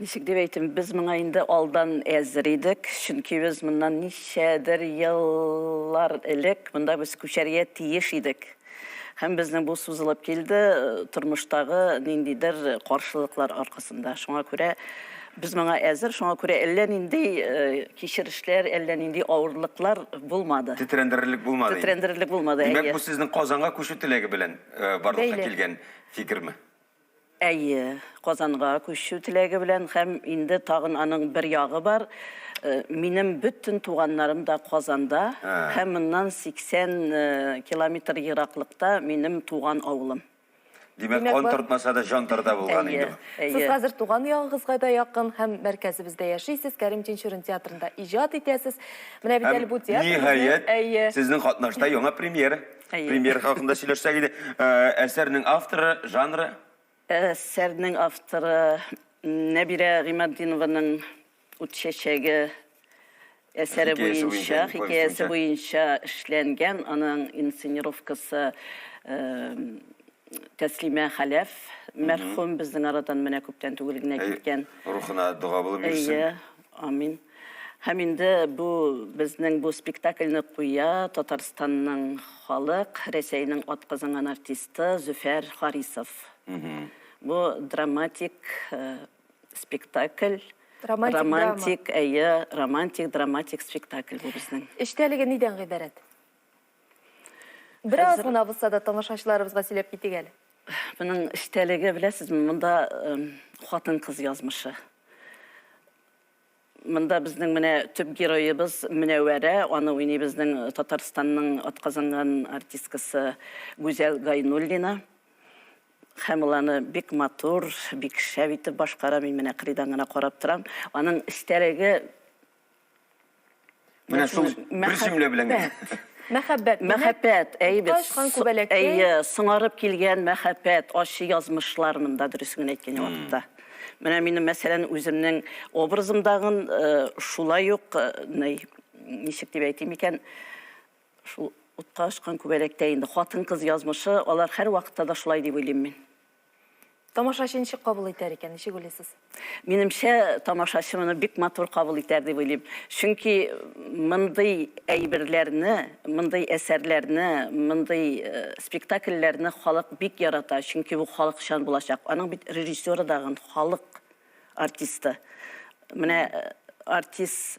Ничек дип әйтим, без моңа инде алдан әзер идек, чөнки без моннан ничәдер еллар элек монда без күчәргә тиеш идек. Һәм безнең бу сузылып килде тормыштагы ниндидер каршылыклар аркасында. Шуңа күрә без моңа әзер, шуңа күрә әллә нинди кичерешләр, әллә нинди авырлыклар булмады. Тетрәндерерлек булмады. Тетрәндерерлек булмады, әйе. Димәк, бу сезнең Казанга күчү теләге белән барлыкка килгән фикерме? Әйе, Казанга күчү теләге белән һәм инде тагын аның бер ягы бар, минем бөтен туганнарым да Казанда һәм моннан 80 километр ераклыкта минем туган авылым. Димәк, кан тартмаса да, җан тарта булган инде бу. Әйе, әйе. Сез хәзер туган ягыгызга да якын һәм мәркәзебездә яшисез, Кәрим Тинчурин театрында иҗат итәсез. Менә бит әле бу театр. Һәм, ниһаять, сезнең катнашта яңа премьера. Әйе. Премьер хакында сөйләшсәк иде. Ә, Әсәрнең авторы, жанры? Әсәрнең авторы Нәбирә Гыйматдинованың Ут чәчәге әсәре Хикәясе буенча, буенча, повесть хикәясе буенча. буенча эшләнгән. Аның инсценировкасы эм, Тәслимә Хәләф мәрхүм безнең арадан менә күптән түгел генә Әй, киткән. Рухына дога булып йөрсен. Әйе. Амин. Һәм инде бу безнең бу спектакльне куя Татарстанның халык, Рәсәйнең атказанган артисты Зөфәр Харисов. Бу драматик э, спектакль. Романтик, романтик, әйе, романтик, драматик спектакль бу безнең. Эчтәлеге нидән гыйбарәт? Бераз гына булса да тамашачыларыбызга сөйләп китик әле. Моның эчтәлеге беләсезме, монда хатын-кыз язмышы. Монда безнең менә төп героебыз Мөнәвәрә, аны уйный безнең Татарстанның атказанган артисткасы Гүзәл Гайнуллина. Һәм ул аны бик матур, бик шәп итеп башкара, мин менә кырыйдан гына карап торам. Аның эчтәлеге Менә шул бер җөмлә белән генә. Мәхәббәт. Мәхәббәт, әйбәт. Әйе, соңарып килгән мәхәббәт, ачы язмышлар монда, дөресен генә әйткән вакытта. Менә минем, мәсәлән, үземнең образымдагын э, шулай ук, э, ничек дип әйтим икән, шул утка очкан күбәләктә инде хатын-кыз язмышы, алар һәр вакытта да шулай дип уйлыйм мин. Тамашачы ничек кабул итәр икән, ничек уйлыйсыз? Минемчә, тамашачы моны бик матур кабул итәр дип уйлыйм. Чөнки мондый әйберләрне, мондый әсәрләрне, мондый э, спектакльләрне халык бик ярата, чөнки бу халыкчан булачак. Аның бит режиссеры дагын халык артисты. Менә э, артист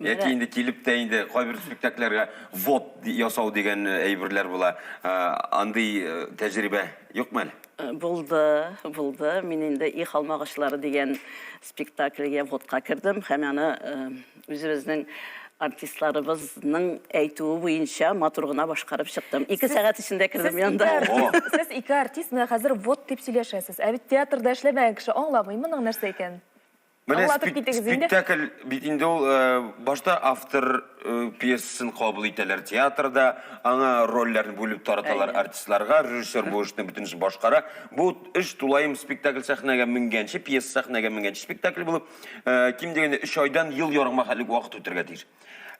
Яки инде килеп тә инде кайбер спектакльләргә вот ясау дигән э, әйберләр була. Э, андый э, тәҗрибә юкмы әле? Э, булды, булды. Мин инде и халмагачлары дигән спектакльгә водка кердем һәм аны э, үзебезнең артистларыбызның әйтүе буенча матур гына башкарып чыктым. Ике сәгать эчендә кердем янда. Сез ике артист менә хәзер вот дип сөйләшәсез. Ә бит театрда эшләмәгән кеше аңламый моның нәрсә икәнен. Менә Аңлатып спек- китегез инде. спектакль бит инде ул э, башта автор э, пьесасын кабул итәләр театрда, аңа рольләрне бүлеп тараталар Әйе. артистларга, режиссер бу эшне бөтенесе башкара. Бу эш тулаем спектакль сәхнәгә менгәнче, пьеса сәхнәгә менгәнче спектакль булып, э, ким дигәндә 3 айдан ел ярымга хәтлек вакыт үтәргә тиеш.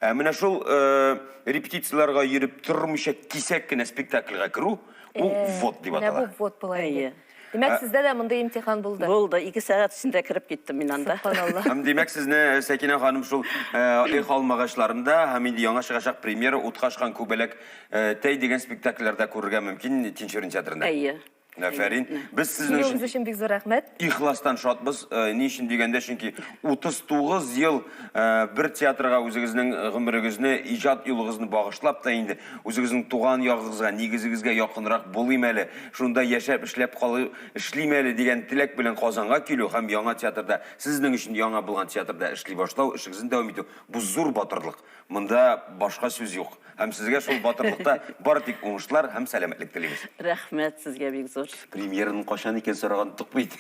Ә менә шул э, репетицияләргә йөреп тормыйча кисәк кенә спектакльгә керү, ул ввод дип Менә атала. бу вот була Әйе. иде. Димәк, ә... сездә дә мондый имтихан булды. Булды. Ике сәгать эчендә кереп киттем мин анда. Субханалла. Һәм димәк, сезне э, Сәкинә ханым шул э, Эх алмагачларында һәм инде яңа чыгачак премьера Утка очкан күбәләк э, тәй дигән спектакльләрдә күрергә мөмкин Тинчурин театрында. Әйе. Афәрин. Без сезнең өчен... Килүегез өчен бик зур рәхмәт. Ихластан шатбыз. Ни өчен дигәндә, чөнки 39 ел Э, бер театрга үзегезнең гомерегезне иҗат юлыгызны багышлап та инде үзегезнең туган ягыгызга нигезегезгә якынрак булыйм әле шунда яшәп эшләп калу эшлим әле дигән теләк белән казанга килү һәм яңа театрда сезнең өчен яңа булган театрда эшли башлау эшегезне дәвам итү бу зур батырлык монда башка сүз юк һәм сезгә шул батырлыкта бар тик уңышлар һәм сәламәтлек телибез рәхмәт сезгә бик зур премьераны качан икән сораган ток бит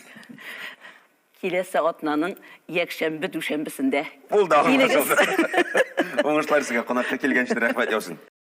Киләсе атнаның якшәмбе дүшәмбесендә Булды, аңлашылды. Килегез. Уңышлар сезгә, кунакка килгән өчен рәхмәт яусын.